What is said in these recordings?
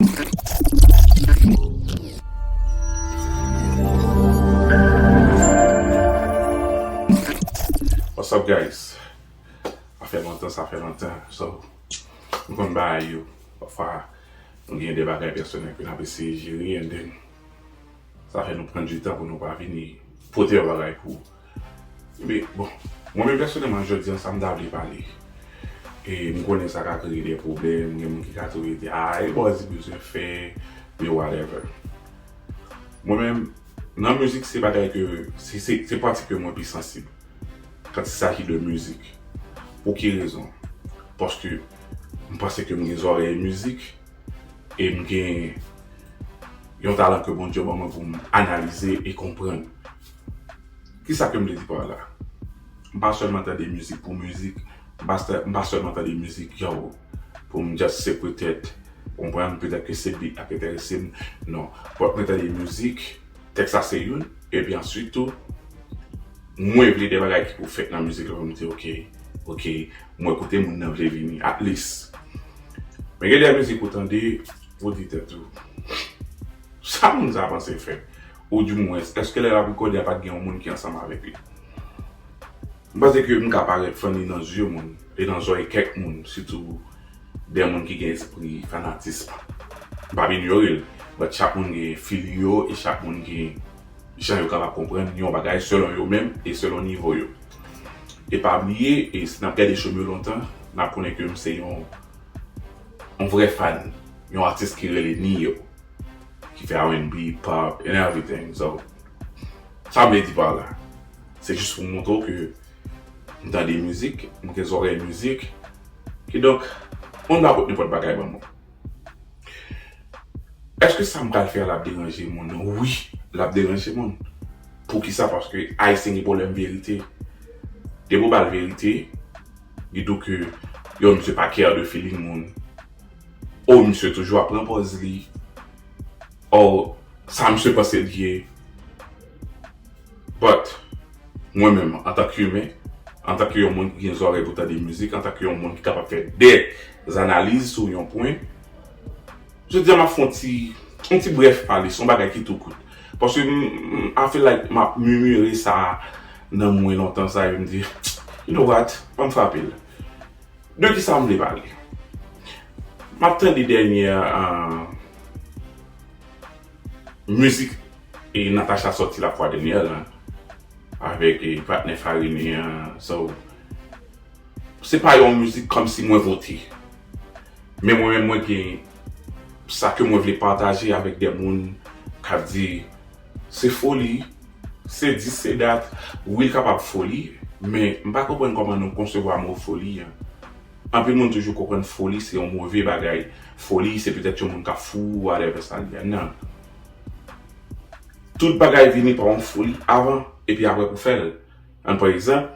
What's up guys sa fè lontan sa fè lontan so nou konn bagay yo pafwa nou gen de bagay pèsonèl ke nap eseye jere and then sa fè nou pran du tan pou nou pa vini pote yon bagay pou Men, bon, mwen menm pèsonèlman jodi an sa m ta vle pale, e m konnen sa ka kreye de pwoblèm, gen moun ki ka toujou di, a e bòz li bezwen fè, e whatever. Mwen menm, nan mizik se bagay ke, se pati ke mwen pi sansib, kant il saji de mizik. Pou ki rezon? Paske m panse ke m gen zòrèy mizik, e m gen yon talan ke Bondye ban mwen pou m analize e konprann. Kisa ke m vle di pa la? M pa sèlman tande mizik pou mizik, m pa sèlman tande mizik yow pou m just se petèt, ou konprann, petèt ke se beat la ki enterese m, non. But mwen tande mizik, tèks la se youn, epi answit tou, mwen vle de bagay ki pou fèt nan mizik la pou m di ok, ok, mwen kote moun nan vle vini, at least. Men gen de mizik ou tande, ou di tèt ou, sa moun sa panse fè? Oudimwens, èske lè l ap rekòde a pa t gen yon moun ki ansanm avèk li? M panse ke m ka parèt fanni nan zye moun e nan zòrèy kèk moun, sitou dè moun ki gen espri fanatism. M pa p inyore l, but chak moun gen feeling yo e chak moun gen jan yo kapab konprann yon bagay selon yo menm e selon nivo yo. E pa bliye, e si n ap gade show m yo lontan, n ap konnen ke m se yon vrè fan yon atis ki rele Ne-Yo. Ki fè rnb, pop and everything so sa mwen vle di pa la se jis pou moutre w ke m tande mizik, m gen zòrèy mizik kidonk moun pa pot nenpòt bagay ban mwen. Eske sa m pral fè a lap deranje moun? Wi lap deranje moun poukisa paske ayisyen gen pwoblèm verite depi w ba l verite li di w ke yo misye pa care de feeling moun. Oh misye toujou ap pran pòz li oh sa misye panse li ye but mwen menm antank humain antank yon moun ki gen zòrèy pou tande mizik antank yon moun ki kapab fè de zanaliz sou yon pwen jodi a map fon ti yon ti brèf pale son bagay ki tou kout paske m I feel like map mimire sa nan mwen lontan sa yo m di you know what banm frapel. De kisa m vle pale? M ap tande dènyè mizik Natacha sòti la fwa dènyè la avèk patnè Farine an so se pa yon mizik kòmsi mwen vote men mwen menm mwen gen sa ke mwen vle pataje avèk de moun k ap di Se foli, se dis se dat, wi l kapab foli, men m pa konprann kòman nou konsevwa mo foli an. Anpil moun toujou konprann foli se yon move bagay, foli se petèt yon moun k ap fou, whatever sa li a. Nan. Tout bagay vini pa yon foli avan, epi aprè pou fè l. An pran egzanp,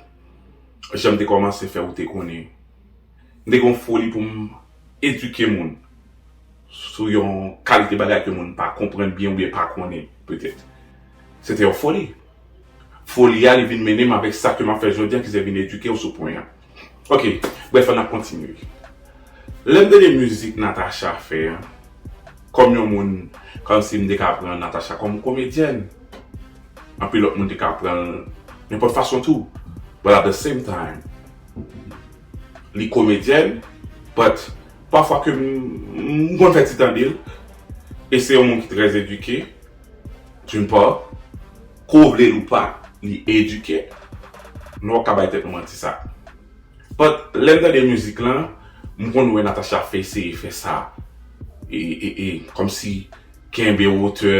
jan m te kòmanse fè ou te konnen. M te gen yon foli pou m edike moun sou yon kalite bagay ke moun pa konprann byen oubyen pa konnen petèt. Se te yon foli. Foli a li vin mennen m avèk sa ke m ap fè jodi a ki se vin edike w sou pwen an. Ok, brèf an ap kontinye. Lè m tande mizik Natacha fè an, kòm yon moun, kòmsi m te ka pran Natacha kòm komedyèn. Anpil lòt moun te ka pran l nenpòt fason tou. But at the same time, Li komedyèn but pafwa ke m konn fè ti tande l e se yon moun ki trè edike d'une part ke w vle l ou pa li edike nou pap ka bay tèt nou manti sa but lè m tande mizik lan m konn wè Natacha ap fè eseye fè sa e kòmsi kenbe wotè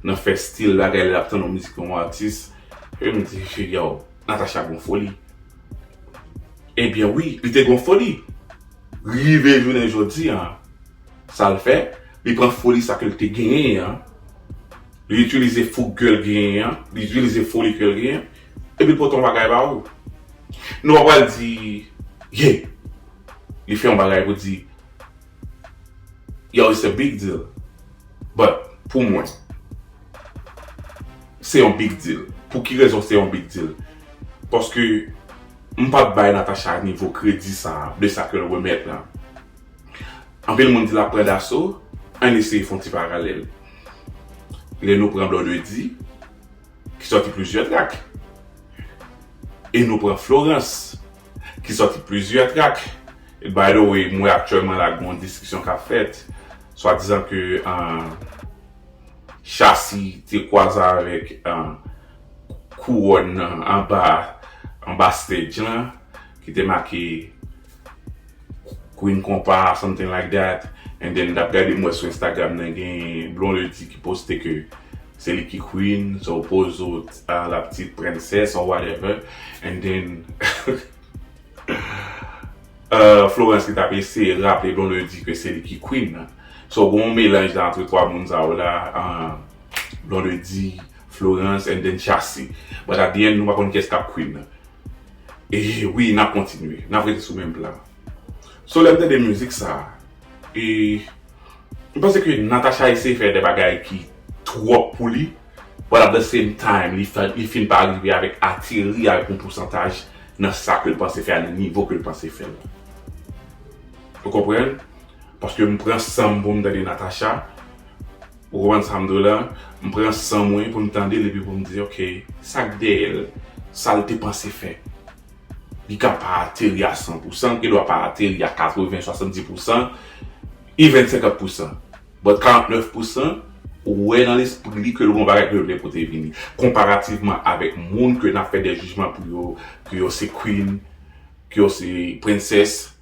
nan fè stil bagay lè l ap tann yon mizik yon atis e m di yow Natacha gen yon foli. Ebyen wi, li te gon foli. Rive jounen jodi an, sa l fè, li pran foli sa ke l te genyen an, li itilize foug ke l genyen an, li itilize foli ke l genyen, epi l pote yon bagay ba ou. Nou pa pral di, ye, li fè yon bagay pou di, Yo it's a big deal but pou mwen se yon big deal pou ki rezon se yon big deal paske m pap bay Natacha nivo kredi sa de sa ke l remèt la anpil moun di l ap pran daso ann eseye fon ti paralèl lè nou pran Blondedy ki sòti plizyè trak e nou pran Florence. ki sòti plizyè trak e by the way m wè aktyèlman la gon diskisyon k ap fèt swadizan ke Shassy te kwaze avèk kouròn nan anba anba stage lan ki te make Queen konpa something like that and then mtap gade m wè sou Instagram nan gen Blondedy ki poste ke se li ki Queen so pozo la p'tit princess or whatever and then Florence ki tap eseye raple Blondedy ke se li ki Queen nan so gen yon melanj la entre 3 moun sa yo la Blondedy, Florence and then Shassy but at the end nou pa konn kiyès kap Queen nan. E wi nap kontinye, nap rete sou menm plan. So lèm tande mizik sa, e m panse ke Natacha eseye fè de bagay ki twòp pou li, but at the same time li fin pa rive avèk ateri avèk yon pousantaj nan sa ke l panse fè a nan nivo ke l panse fè l. Ou konprann? Paske m pran san m pou m tande Natacha. Ou konprann sa m di w la? M pran san mwen pou m tande l epi pou m di ok, sa k dèyè l? Sa l te panse fè? Li ka pa ateri a san pou san, l gendwa pa ateri a katreven, swasandi pou san, even senkant pou san. But karantnèf pou san, ou wè nan lespri li ke l gon bagay ke l vle pote vini. Konparativman avèk moun ke n ap fè dè jijman pou yo, ke yo se queen, ke yo se princess.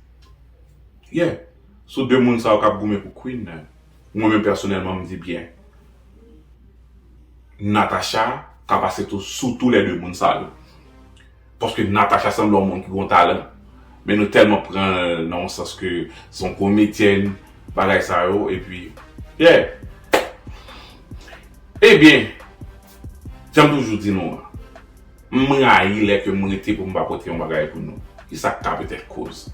Yeah. Sou de moun sa yo k ap goumen pou queen nan. Mwen menm pèsonèlman m di byen Natacha ka pase tou sou tou lè 2 moun sa yo. Paske Natacha sanble yon moun ki gon talan men nou tèlman pran l nan yon sans ke se yon komedyèn bagay sa yo epi yeah. Ebyen jan m toujou di nou an. M rayi lè ke m rete pou m pa pote yon bagay pou nou. Ki sa k ka petèt koz?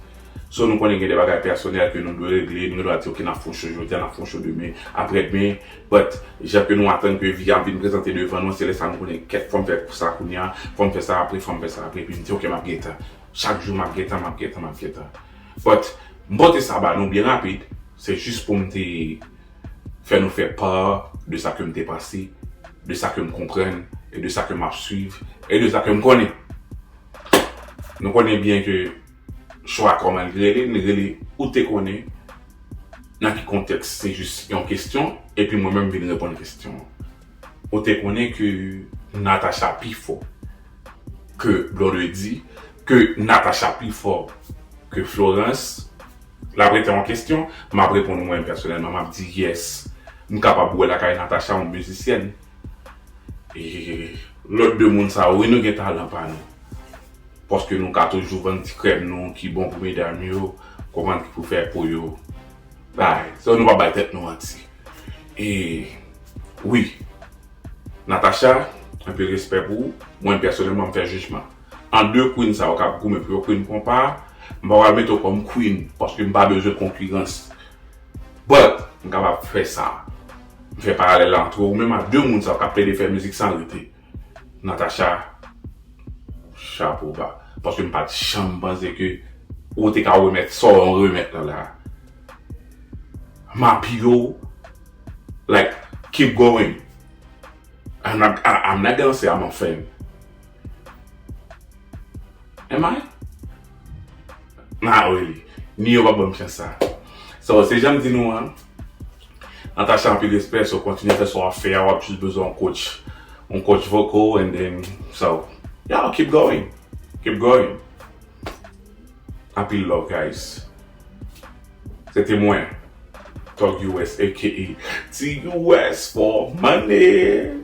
So nou konnen gen de bagay pèsonèl ke nou dwe regle, nou gen dwa di ok n ap fè yon show jodi a, n ap fè yon show demen, aprè demen, but jan ke nou atann ke vi a ap vin prezante devan nou an, se lè sa nou konnen kèt fò m fè sa kounye a, fò m fè sa apre, fò m fè sa apre, epi m di ok m ap gen tan. Chak jou m ap gen tan, m ap gen tan, m ap gen tan. But m pote sa ba nou byen rapid, se jis pou m te Fè nou fè part de sa ke m te pase, de sa ke m konprann, e de sa ke m ap swiv, e de sa ke m konnen. Nou konnen byen ke chwa kòman li rele, li rele Ou te konnen nan ki kontèks se jis yon kestyon, epi mwen menm vin reponn kestyon an. Ou te konnen ke Natacha pi fò ke Blondedy, ke Natacha pi fò ke Florence, Lap rete yon kesyon, map reponn mwen pèsonèlman map di yes m kapab wè lakay Natacha yon mizisyèn e lòt 2 moun sa yo wi nou gen talan pa nou paske nou ka toujou vann ti krèm nou ki bon pou medam yo konprann ki pou fè pou yo bay so nou pa bay tèt nou manti e wi Natacha anpil respè pou ou mwen pèsonèlman m fè jijman. An 2 Queen sa yo kap goumen pou yo Queen konpa a, m pa pral mete w kòm Queen paske m pa bezwen konkirans but m kapab fè sa, m fè paralèl la antre ou menm ak 2 moun sa yo kap plede fè mizik san rete Natacha chapo ba paske m pat janm panse ke ou te ka remèt sa w remèt la la M apiye w like keep going I'm not gonna say I'm a fan. Am I? Ah wi, ni yo pa banm chans sa. So, se janm di nou an, Natacha anpil respè, so kontinye fè sa wap fè a, wap jis bezwen yon coach, yon coach vocal and then, so, yeah keep going, keep going. Anpil love guys. Se te mwen, Thug US aka TUS for money.